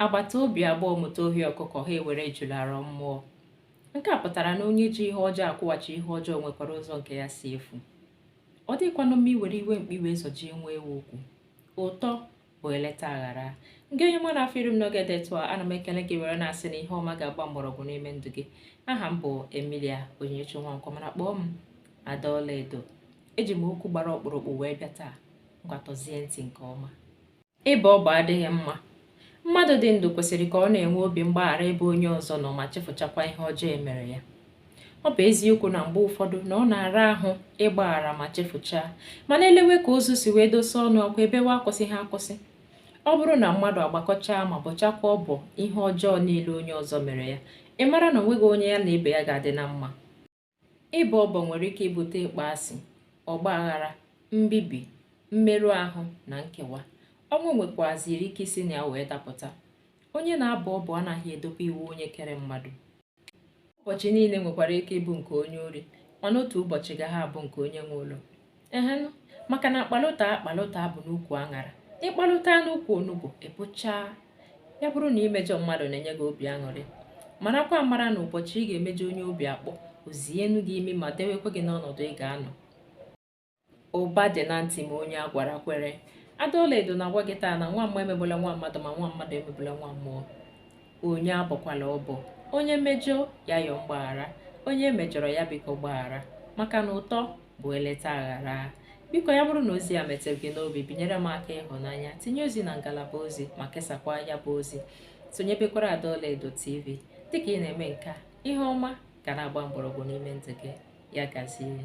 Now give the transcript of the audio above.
agbata obi abụọ mụta ohi ọkụkọ ha ewere ejula rụọ mmụọ nke a pụtara na onye ji ihe ọjọọ akwụghachi ihe ọjọọ nwekwara ụzọ nke ya si efu ọ dịkwanụ mma iwere iwe mkpi wee zọjie nwa ewu ukwu ụtọ bụ eleta aghara ngị onye ọma na-afụ iru m n'oge dị etu a ana m ekele gị were na-asị na ihe ọma ga-agba mgbọrọgwụ n'ime ndụ gị aha m bụ emilia onyinyechi nwankwọ mana kpọọ m ada ọlaedo eji m okwu gbara ọkpụrụkpụ wee bịa taa ngwa tọzie ntị nke ọma Ịbọ ọbọ adịghị mma. Mmadụ dị ndụ kwesịrị ka ọ na-enwe obi mgbaghara ebe onye ọzọ nọ ma chefuchakwa ihe ọjọọ e mere ya. Ọ bụ eziokwu na mgbe ụfọdụ na ọ na-ara ahụ ịgbaghara ma chefuchaa, mana elewe ka ozu si wee dosa ọnụ ọkwa ebewe akwụsịghị akwụsị. Ọ bụrụ na mmadụ agbakọchaa ma bọchakwa ọbọ ihe ọjọọ niile onye ọzọ mere ya, ị mara na onweghị onye ya na ibe ya ga-adị na mma. ịbọ ọbọ nwere ike ibute ịkpọasị ọgba aghara mbibi mmerụ ahụ na nkewa ọnwụ nwekwaziri ike isi na ya wee dapụta onye na-abọ ọbọ anaghị edobe iwu onye kere mmadụ ụbọchị niile nwekwara ike ịbụ nke onye ori mana otu ụbọchị gaghị abụ nke onye nwe ụlọ ehen maka na akpalụta akpalụta bụ n'ukwu aṅara ị kpalụta n'ukwu onugbu ị bụchaa ya bụrụ na imejọ mmadụ na-enye gị obi aṅụrị marakwa amara na ụbọchị ị ga-emejọ onye obi akpọ o zienu gị imi ma dewekwa gị n'ọnọdụ ị ga-anọ ụba dị na ntị ma onye a gwara kwere ada ọlaedo na-agwa gị taa na nwa mmụọ emegbula nwa mmadụ ma nwa mmadụ emegbula nwa mmụọ onye abọkwala ọbọ onye mejọọ ya yọọ mgbaghara onye e mejọrọ ya biko gbaghara maka na ụtọ bụ eleta aghara biko ya bụrụ na ozi a metụrụ gị n'obi binyere m aka ịhụnanya tinye ozi na ngalaba ozi ma kesakwa ya bụ ozi sonyebekwara ada ọlaedo tv dịka ị na-eme nke a ihe ọma ga na-agba mgbọrọgwụ n'ime ndụ gị ya gazie